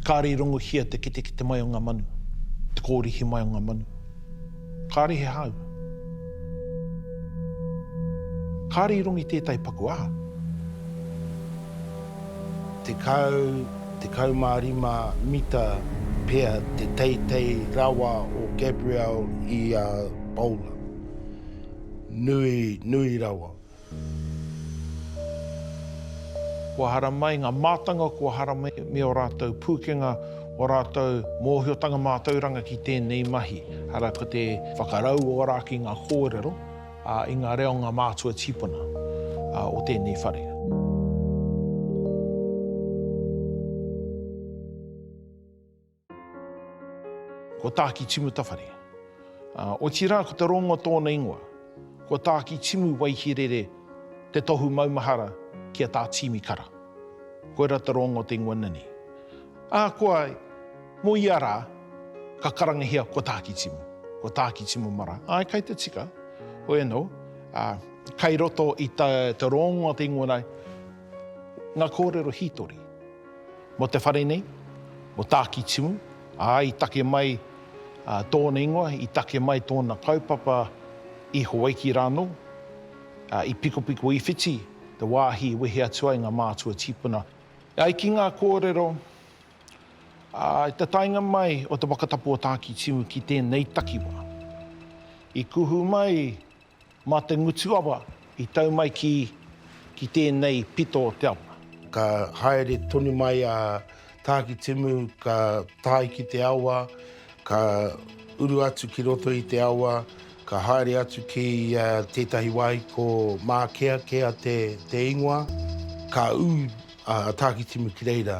Kāre i rongohia te ketekete mai o ngā manu, te kōrihi mai o ngā manu. Kāre he hāu. Kāre i rongi tētahi paku aha? Tekau, tekau mā rima mita pea te teitei rawa o Gabriel i a Paula. Nui, nui rawa. Kua haramai ngā mātanga, kua haramai me ō rātou pūkenga, ō rātou mōhiotanga mātauranga ki tēnei mahi. Arā, ko te whakarauora ki ngā kōrero i ngā reo o ngā mātua tīpuna o tēnei whare. Ko Tāki Timu Tawhare. Ā, otirā ko te rongo tōna ingoa. Ko Tāki Timu Waihirere te tohu maumahara ki a Tā Tīmi Kara. Koirā te rongo o te ingoa nani. Ā, kua, mō ia rā, ka karangahia ko Tāki Timu. Ko Tāki Timu Mara. Āe, kai te tika. Hoi anō, ā, kai roto i te rongo o te ingoa nei, ngā kōrero hītori. Mo te whare nei, mo Tākitimu, ā, i take mai tōna ingoa, i take mai tōna kaupapa i Hawaiki rānō, ā, i Pikopiko i Whiti, te wāhi i wehe atu ai ngā mātua tīpuna. E ai ki ngā kōrero, ā, i te taenga mai o te whakatapu o Tākitimu ki tēnei takiwā, i kuhu mai, Mā te ngutu awa i tau mai ki ki tēnei pito o te awa. Ka haere tonu mai a Tākitimu ka tae ki te awa, ka uru atu ki roto i te awa, ka haere atu ki tētahi wāhi ko Mākeakea te ingoa, ka ū a Tākitimu ki reira.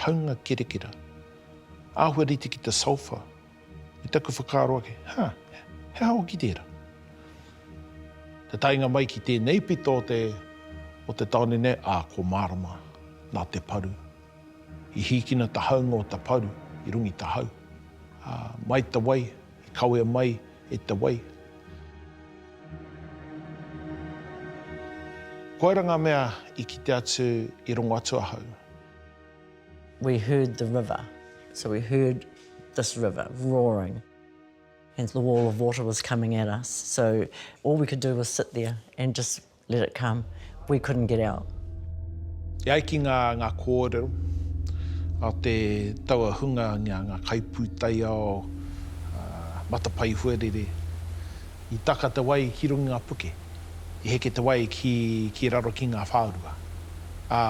Haunga kerekera. Āhua rite ki te sulphur. I taku whakaaro ake, ha, he aha hoki tērā? Te taenga mai ki tēnei pito o te, o te tāone nei, ā, ko Mārama, nā te paru. I hīkina ta haunga o ta paru i rungi ta hau. Ā, mai ta wai, i kawea mai e te wai. Koira ngā mea i kite atu, i rongo atu ahau. We heard the river, so we heard this river roaring and the wall of water was coming at us, so all we could do was sit there and just let it come, we couldn't get out. E ai ki ngā kōrero, nā te taua hunga ngia ngā kaipūtaiao matapae huarere. I taka te wai ki runga i nga puke, i heke te wai ki ki raro ki nga whaorua, a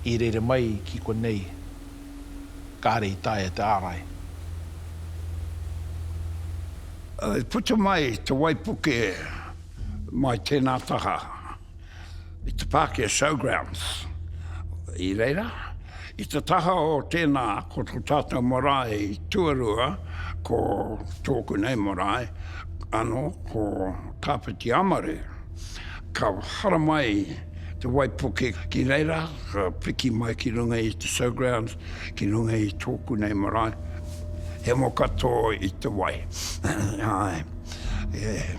i rere mai ki konei kare i taea te arai. I puta mai te wai puke mai tena taha. i te Pākehā e Showgrounds i reira. I te taha o tēnā, ko tō tātou marae i tuarua, ko tōku nei marae, anō, ko Tāwhiti Amaru. Ka hara mai te waipuke ki reira, ka piki mai ki runga i te Showgrounds, ki runga i tōku nei marae. He mo katoa i te wai. Ai. Yeah.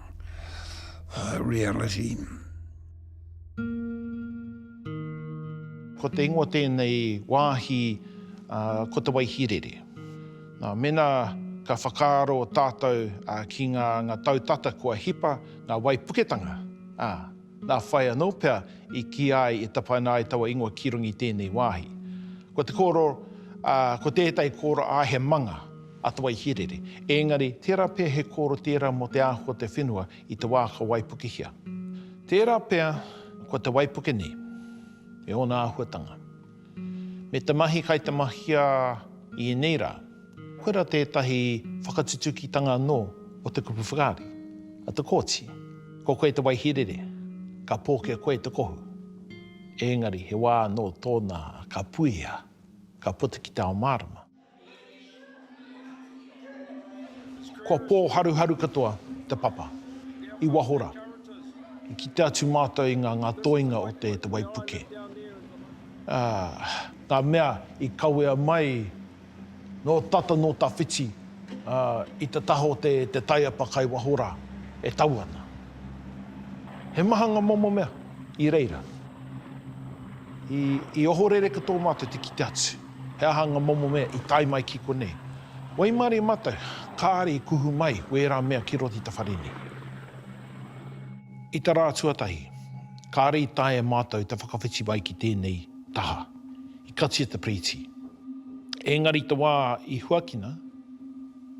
reality. Ko te ingoa tēnei wāhi, ko Te Waihīrere. Nā, mēnā ka whakaaro tātou ki ngā tau tata kua hipa ngā waipuketanga, ā, nā whai anō pea i kīa ai e tapaina ai taua ingoa ki runga i tēnei wāhi. Ko te kōrero, ko tētahi kōrero, ā, he manga. a Te Waihīrere, ēngari tērā pea he kōro tērā mō te āhua o te whenua i te wā ka waipukehia. Tērā pea ko te waipuke nei, me ōna āhuatanga, me te mahi kai te mahia i ēnei rā, koirā tētahi whakatutukitanga anō o te kupu whakaari a Te Kooti, ko koe Te Waihīrere, ka pōkia koe te kohu. Ēngari he wā anō tōna ka puea, ka puta ki te ao mārama. Kua pōharuharu katoa te papa, i waho rā. I kite atu mātou i ngā ngā toenga o te waipuke. Ā, ngā mea i kawea mai nō tata nō tawhiti, ā, i te taha o te taiapa kai waho rā, e tau ana. He maha ngā momo mea i reira. I, i ohorere katoa mātou te kite atu. He aha nga momo mea i tae mai ki konei? Waimarie matou, kaare i kuhu mai wera mea ki roti ta whare nei. I ta ra tuatahi, kaare i taea matou ta whakawhiti mai ki tenei taha. I katia te piriti. Engari te wa i huakina,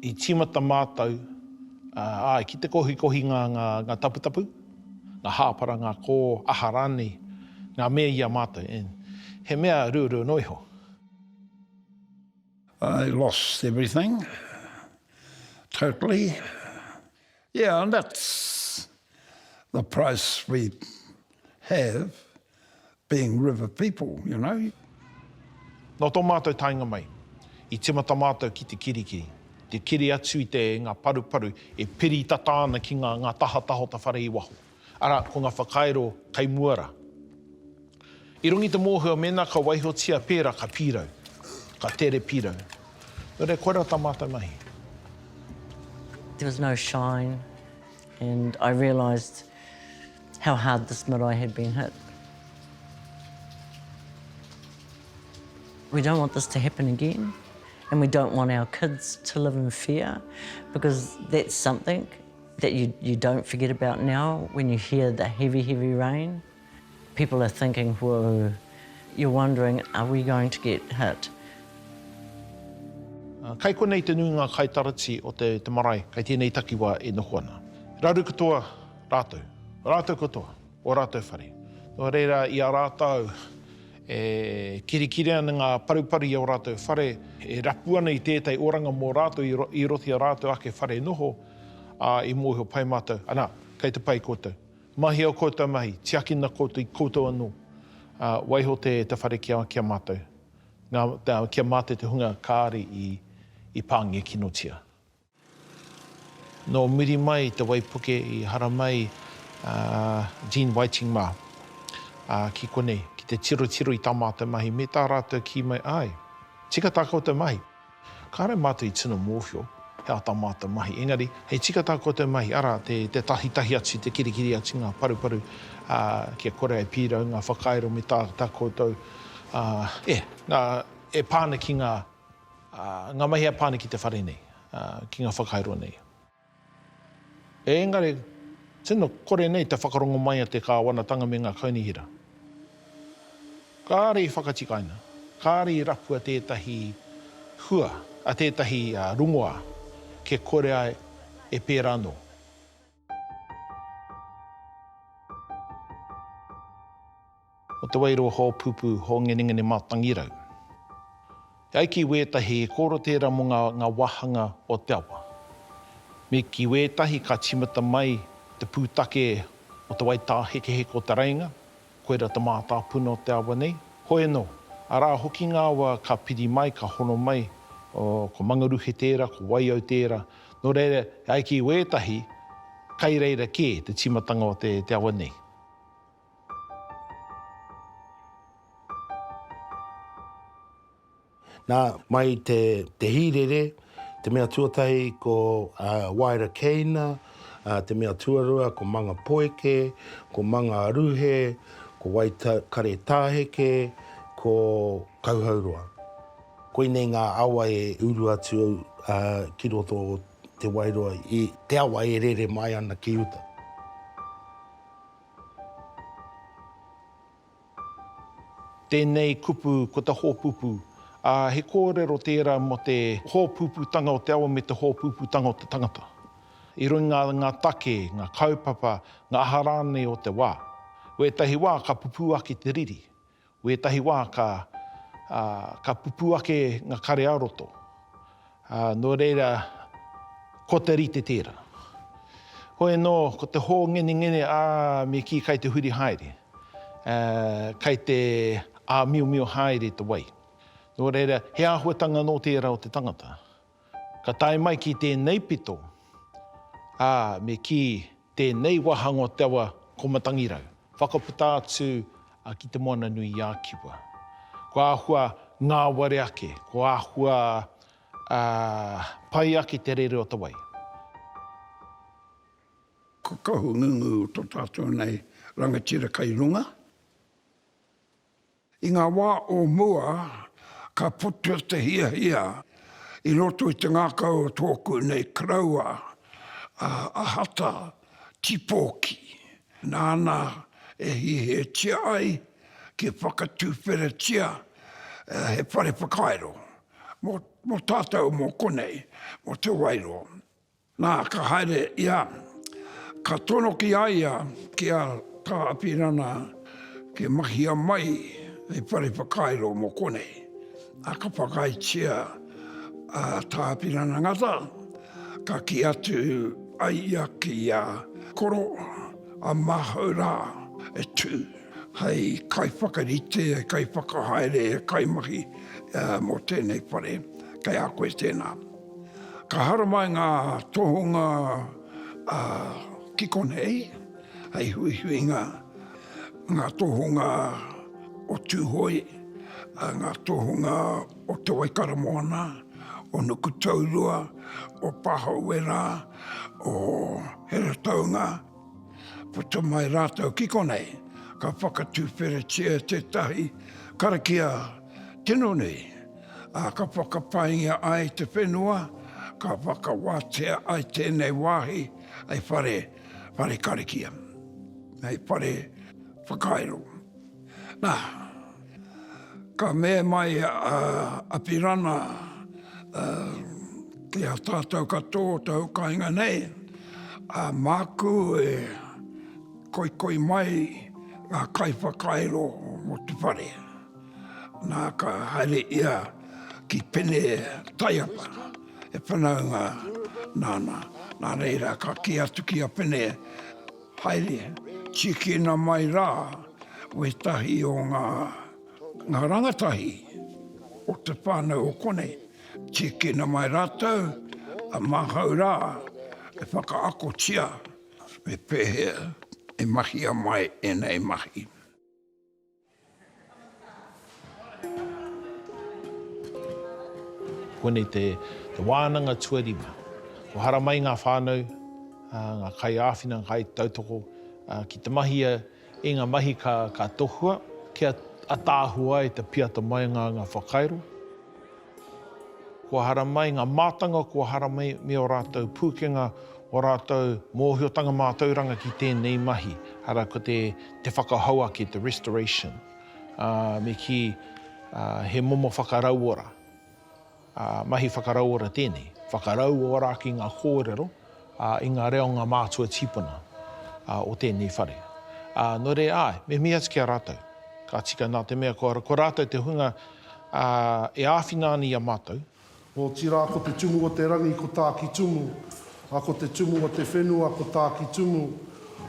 i timata matou, ae, ki te kohikohinga nga taputapu. ngā hāpara, ngā kō, aha rānei, ngā mea i a mātou, and he mea ruarua noa iho. I lost everything, totally. Yeah, and that's the price we have. being river people, you know. Nō tō mātou taenga mai, i tīmata mātou ki te kirikiri, te kiri atu i te ngā paruparu e piri tata ana ki ngā ngā tahataha o ta whare i waho, arā, ko ngā whakairo kei mua rā. I runga i te mōhio mēnā ka waihotia pērā ka pīrau, ka tere pīrau. Nō reira, koirā tā mātou mahi. There was no shine and I realised. How hard this marae had been hit. We don't want this to happen again and we don't want our kids to live in fear because that's something that you, you don't forget about now when you hear the heavy, heavy rain. People are thinking, whoa, you're wondering, are we going to get hit? Uh, kai konei te nuinga kai tarati o te, te marae, kai tēnei takiwa e noho ana. Raru katoa Rātou, o rātou katoa, o rātou whare. Nō reira, i a rātou e kirikiri ana ngā paruparu i ō rātou whare, e rapu ana i tētahi oranga mō rātou i, i roto i a rātou ake whare noho, ā, i mōhio pai mātou, anā, kei te pai koutou. Mahia koutou mahi, tiakina koutou i koutou anō. Ā, waiho te, te whare ki a, ki a mātou. Ngā, te, ki a mātou te hunga kāre i, i pāngekinotia. Nō muri mai te waipuke i haramai a Jean Whiting mā ki konei ki te tirotiro i tā mātou mahi me tā rātou kī mai, āe, tika tā koutou mahi. Kāore mātou i tino mōhio he aha tā mātou mahi, engari hei tika tā koutou mahi, arā, te tahitahi atu, te kirikiri atu i ngā paruparu kia kore ai pīrau ngā whakairo me tā koutou e pā ana ki ngā. Ngā mahi a Pane ki te whare nei, ki ngā whakairo nei. Engari, tino kore nei te whakarongo mai a te Kāwanatanga me ngā kaunihera. Kāre i whakatikaina, kāre i rapua tētahi hua, tētahi rongoā kia kore ai e pērā anō. O te wairua hōpupu, hōngenengene mātangirau. E ai ki wētahi, he kōrero tērā mō ngā, ngā wāhanga o te awa. Me ki wētahi ka tīmata mai te pūtake o te waitā hekeheke o Te Rēinga, Koira te mātāpuna o te awa nei. Hoi anō, arā hoki ngā awa ka piri mai, ka hono mai, ko Mangaruhe tērā, ko Waiau tērā, nō reira, e ai ki wētahi, kai reira kē te tīmatanga o te awa nei. Nā, mai i te hīrere, te mea tuatahi ko Waera Keina, te mea tuarua ko Manga Poeke, ko Manga a Ruhe, ko Waikare Tāheke, ko Kauhauroa. Koinei ngā awa e uru atu ki roto o Te Wairoa i te awa e rere mai ana ki uta. Tēnei kupu ko te hōpupu, ā, he kōrero tērā mō te hōpuputanga o te awa me te hōpuputanga o te tangata, i runga i ngā take, ngā kaupapa, ngā aha rānei o te wā. Wētahi wā ka pupū ake te riri, wētahi wā ka, ā, ka pupū ake ngā kare-ā-roto. Ā, nō reira, ko te rite tērā. Hoi anō, ko te hōngenengene, ā, me kī kai te huri haere, ā, kai te āmiomio haere te wai. Nō reira, he āhuatanga nō tērā o te tangata. Ka tae mai ki tēnei pito, ā, me kī. Tēnei wāhanga o te awa ko Matangirau, whakaputa atu ki Te Moana-nui-a-Kiwa. Kua āhua ngāwari ake, kua āhua pai ake te rere o te wai. Ko Kahungunu to tatou nei rangatira kai runga. I ngā wā o mua, ka puta te hiahia i roto i te ngākau o tōku nei koroua, a Ahata Tipōki, nāna e hiahiatia ai kia whakatuwheratia he whare whakairo mō tātou mō konei, mō Te Wairoa. Nā, ka haere ia, ka tono ki a ia, ki a Tā Apirana, kia mahia mai hei whare whakairo mō konei. Nā, ka whakaaetia a Tā Apirana Ngata, ka kī atu ai ia ki a Koro, a māhau rā e tū hei kaiwhakarite, hei kaiwhakahaere, hei kaimahi mō tēnei whare, kei a koe tēnā. Ka haramai ngā tohunga ki konei, hei huihuinga, ngā tohunga o Tūhoe, ngā tohunga o Te Waikaramoana, o Nukutaurua, o Pāhauwera, o Heretaunga, puta mai rātou ki konei, ka whakatuwheretia tētahi karakia, Tino nei, ā, ka whakapaingia ai te whenua, ka whakawātea ai tēnei wāhi hei whare, whare karakia, hei whare whakairo. Nā, ka mea mai a Apirana, ā, ki a tātou katoa o te hukainga nei, ā, māku e koikoi mai ngā kaiwhakairo mō te whare. Nā, ka haere ia ki Pene Taiapa, he whanaunga nāna. Nā reira, ka kī atu ki a Pene, Haere, tīkina mai rā wētahi o ngā rangatahi o te whānau o konei, tīkina mai rātou, a māhau rā e whakaakotia me pēhea e mahia mai ēnei mahi. Koinei te wānanga tuarima. Kua haramai ngā whānau, ngā kaiāwhina, ngā kaitautoko ki te mahia i ngā mahi ka tohua kia ataahua ai, kia piata mai ngā whakairo. Kua haramai ngā mātanga, kua haramai ō rātou pūkenga, ō rātou mōhiotanga mātauranga ki tēnei mahi, arā, ko te, te whakahou ake, te restoration, ā, me kī, ā, he momo whakarauora, ā, mahi whakarauora tēnei, whakarauora ki ngā kōrero, i ngā reonga mātua tīpuna o tēnei whare. Nō reira, āe, me mihi atu ki a rātou, ka tika nā te mea ko rātou te hunga e āwhina ana i a mātou. Otirā, ko te Tumu o te Rangi ko Tākitumu, ā, ko te Tumu o te Whenua ko Tākitumu,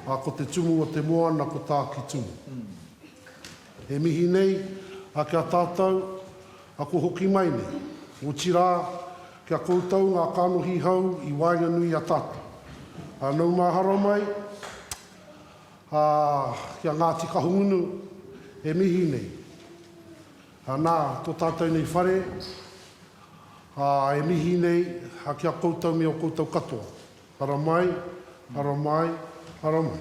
ā, ko te Tumu o te Moana ko Tākitumu. E mihi nei, a kia tātou, a ko hoki mai nei. Otirā, kia koutou ngā kanohi hou i waenganui i a tātou. A nau mahara mai, a kia Ngāti Kahungunu, e mihi nei. A nā, tō tātou nei whare, a e mihi nei, a kia koutou me o koutou katoa. Haramai, haramai, haramai.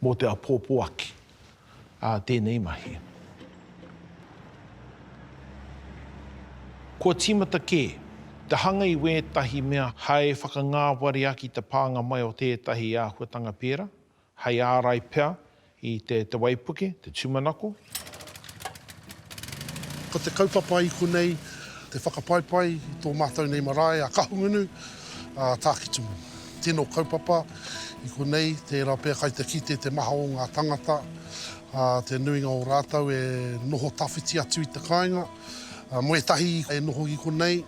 Mō te apōpō aki a tēnei mahi. Kua tīmata kē te hanga i wētahi mea hai whakangāwari aki te pānga mai o tētahi āhuatanga pērā, hai ārai pea i te waipuke, te tūmanako, Ko te kaupapa i konei te whakapaipai i tō mātou nei marae a Kahungunu, a Tākitimu. Tino kaupapa i konei tērā pea kai te kite te maha o ngā tangata, te nuinga o rātou e noho tawhiti atu i te kāinga. Mo ētahi e noho i konei,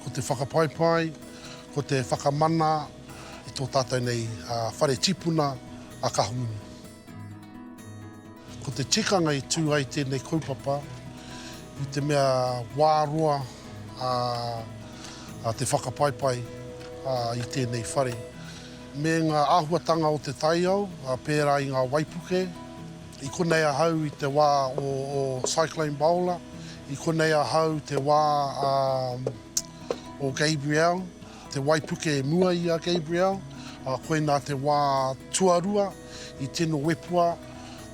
ko te whakapaipai, ko te whakamana i tō tātou nei whare tipuna a Kahungunu. Ko te tikanga i tū ai tēnei kaupapa i te mea wā roa a te whakapaipai i tēnei whare me ngā āhuatanga o te taiao pērā i ngā waipuke. I konei ahau i te wā o Cyclone Baola, i konei ahau te wā o Gabrielle. Te waipuke e mua i a Gabriel, ā, koinā te wā tuarua i tino wepua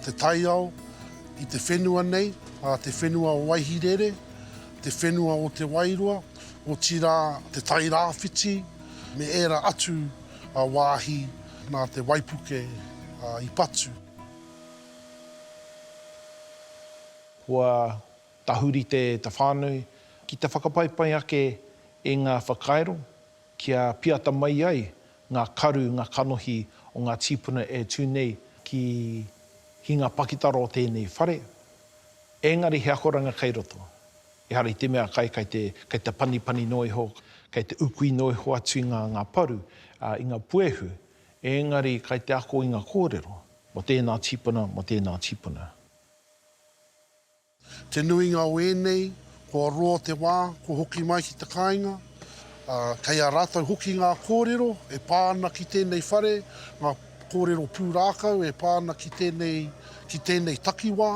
te taiao i te whenua nei, ā, te whenua o Waihirere, te whenua o Te Wairoa, otirā te Tairāwhiti me ērā atu wāhi nā te waipuke i patu. Kua Tahuri te whānui ki te whakapaipai ake i ngā whakairo kia piata mai ai ngā karu, ngā kanohi o ngā tīpuna e tū nei ki hinga pakitara o tēnei whare. Engari he akoranga kei roto. Ehara i te mea kai, kai te, kai te panipani noa iho, kai te ukui noa iho atu i ngā, ngā paru, ā, i ngā puehu, engari kai te ako i ngā kōrero mō tēnā tīpuna, mō tēnā tīpuna. Te nuinga o ēnei, kua roa te wā, kua hoki mai ki te kāinga, ā, kei a rātou hoki ngā kōrero e pā ana ki tēnei whare, ngā kōrero pūrākau e pā ana ki tēnei, ki tēnei takiwā,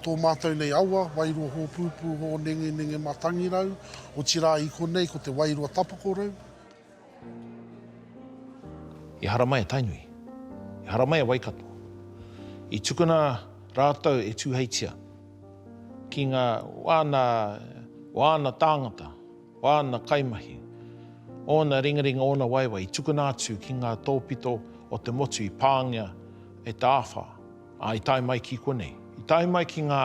tō mātou nei awa, Wairoa Hōpūpū Hōnengenenge Mātangirau, otirā i konei ko te Wairoa Tapakorau. I haramai a Tainui. I haramai a Waikato. I tukuna rātou e Tūheitia ki ngā wāna, wāna tāngata, wāna kaimahi, ōna ringaringa, ōna waewae i tukuna atu ki ngā tōpito o te motu i pāngia e Te Āwhā, ā, i tae mai ki konei. I tae mai ki ngā.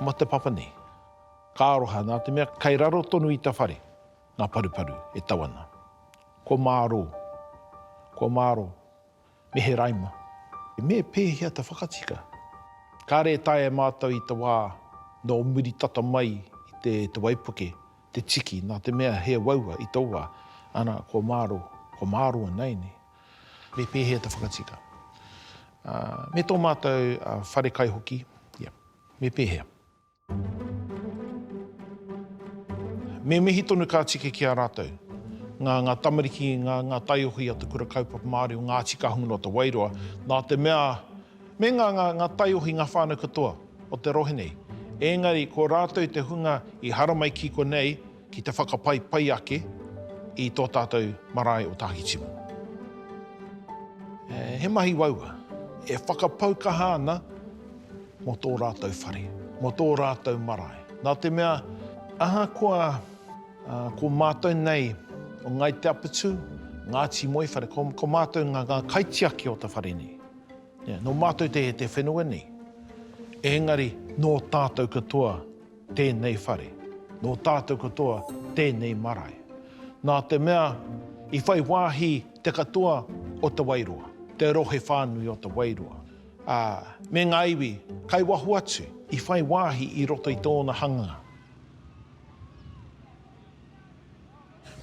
Ma te papa nei. Ka aroha na te mea kai raro tonu i ta whare nga paruparu e tau ana. Kua maro, kua maro, me he raima. Me pehea ta whakatika? Kare e taea e matou i ta wa no muri tata mai i te te waipuke, te tiki, na te mea he waua i to wa, ana kua maro, kua maro ana ene. Me pēhea te whakatika? Me tō mātou whare kai hoki, ia. Me pēhea? Me mihi tonu ka tika ki a rātou, ngā, ngā tamariki, ngā, ngā taiohi a Te Kura Kaupapa Māori o Ngāti Kahungunu o Te Wairoa, nā te mea, me ngā, ngā, ngā taiohi, ngā whānau katoa o te rohe nei. Engari, ko rātou te hunga i haramai ki konei, Ki te whakapai pai ake i tō tātou marae o Tākitimu. He mahi waua e whakapau kaha ana mō tō rātou whare, mō tō rātou marae. Nā te mea, ahakoa ko mātou nei o Ngāi Te Apatū, Ngāti Moewhare, ko mātou ngā kaitiaki o te whare nei. Nō mātou te whenua nei, engari nō tātou katoa. tēnei whare, nō tātou katoa tēnei marae. Nā te mea i whai wāhi te katoa o Te Wairoa, te rohe whānui o Te Wairoa, ā, me ngā iwi kai waho atu i whai wāhi i roto i tōna hanga.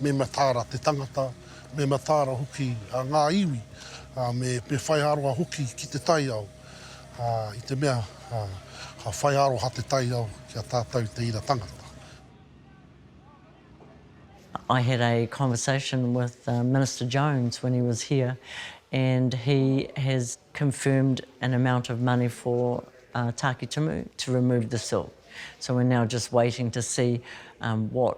Me mataara te tangata, me mataara hoki ngā iwi, ā, me, me whaiaroha hoki ki te taiao, ā, i te mea, ā, ka whaiaroha te taiao ki a tātou te ira tangata. I had a conversation with Minister Jones when he was here and he has confirmed an amount of money for Tākitimu to remove the silt. So we're now just waiting to see what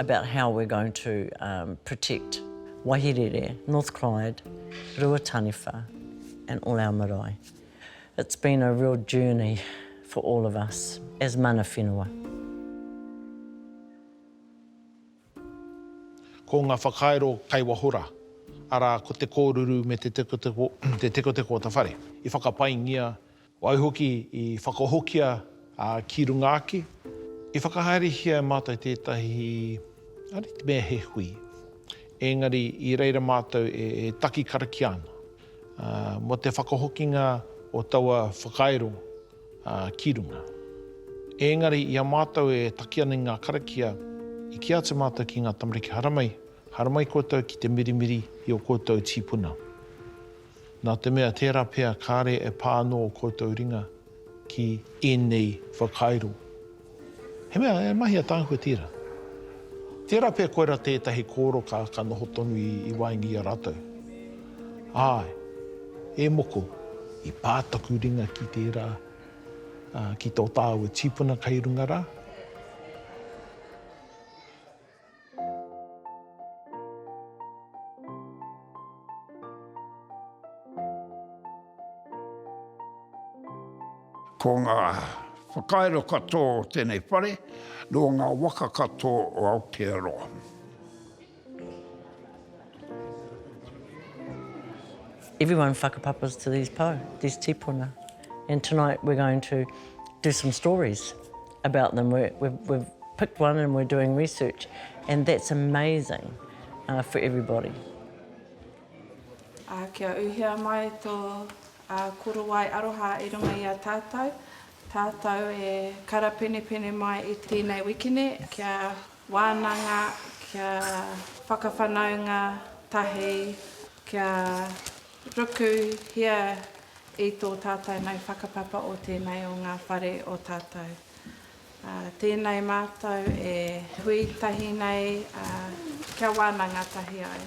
about how we're going to protect Wahirere, North Clyde, Ruataniwha and all our marae. It's been a real journey for all of us as mana whenua. Ko nga whakairo kai wahora, ara ko te koruru me te tekoteko o ta whare, i whakapaingia, Waihoki, i whakahokia ki runga ake, i whakahaerehia e mātou tētahi, ari te mea he hui, engari i reira mātou e taki karakia ana mō te whakahokinga o taua whakairo ki runga. Engari i a mātou e taki ana i ngā karakia, i kī atu mātou ki ngā tamariki haramai, haramai koutou ki te mirimiri i o koutou tīpuna. nā te mea tērā pea kāre e pā anō ō koutou ringa ki ēnei whakairo. He mea e mahi a Tāhua Tira. Tērā pea koirā tētahi kōroka ka noho tonu i waenga i a rātou. Āe, e moko, i pā taku ringa ki tērā, ā, ki tō tāua tīpuna kei runga rā. Ko ngā whakairo katoa o tēnei whare nō ngā waka katoa o Aotearoa. Everyone whakapapas to these po, these tipuna. And tonight we're going to do some stories. about them we're we've picked one and we're doing research and that's amazing uh, for everybody. Uh, kia uhia mai tō uh, korowai aroha i runga i a tātou. Tātou e karapenepene mai i tēnei wikine kia wānanga, kia whakawhanaunga tahi, kia Ruku, Hea i tō tātou mau whakapapa o tēnei o ngā whare o tātou? Ā, tēnei mātou e hui tahi nei, ā, kia wānanga tahi ai.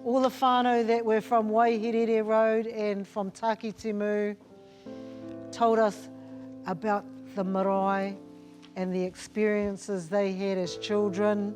All the whānau that were from Waihirere road and from Takitimu told us about the marae and the experiences they had as children.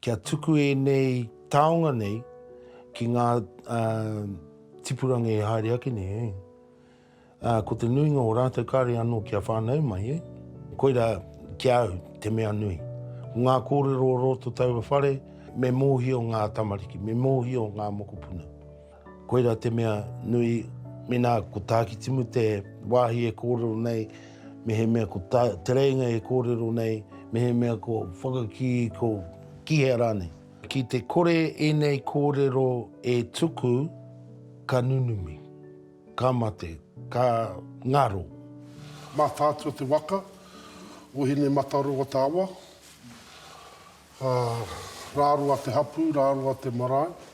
Kia tuku ēnei taonga nei ki ngā tipuranga e haere ake nei. Ko te nuinga o rātou kāre anō kia whānau mai. Koirā ki a au te mea nui. Ko ngā kōrero o roto taua whare, me mōhio ngā tamariki, me mōhio ngā mokopuna. Koira te mea nui, mēnā ko Tākitimu te wāhi e kōrero nei, mehemea ko tā, Te Rēinga e kōrero nei, mehemea ko Whakakī, ko Kihea rānei. Ki te kore ēnei kōrero e tuku, ka nunumi, ka mate, ka ngaro. Mātātua te waka o Hinemataroa-te-awa, ā, rāroa te hapū, rāroa te marae.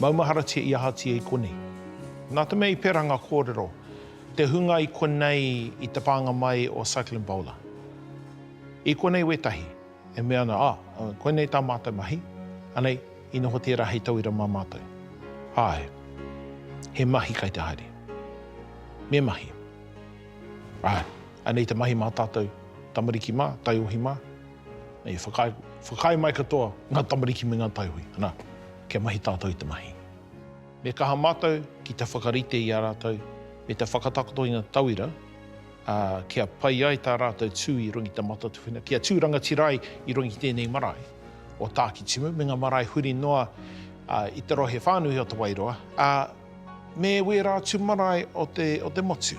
Maumaharatia i ahatia i konei? Nā te mea i pērā ngā kōrero, te hunga i konei i te pānga mai o Cyclone Bola. I konei wētahi e mea ana, ah, koinei tā mātou mahi, anei, i noho tērā hei tauira mā mātou. Āe, he mahi kei te haere. Me mahi. Āe. Anei te mahi mā tātou tamariki mā, taiohi mā, e whakaae, whakaae mai katoa ngā tamariki me ngā taiohi, nā, kia mahi tātou i te mahi. Me kaha mātou ki te whakarite i a rātou me te whakatakoto i ngā tauira, ā, kia pai ai tā rātou tū i runga i te Mātatuwhera, kia tū rangatira ai i runga i tēnei marae o Tākitimu, me ngā marae huri noa i te rohe whānui o Te Wairoa, ā, me wērā atu marae o te, o te motu.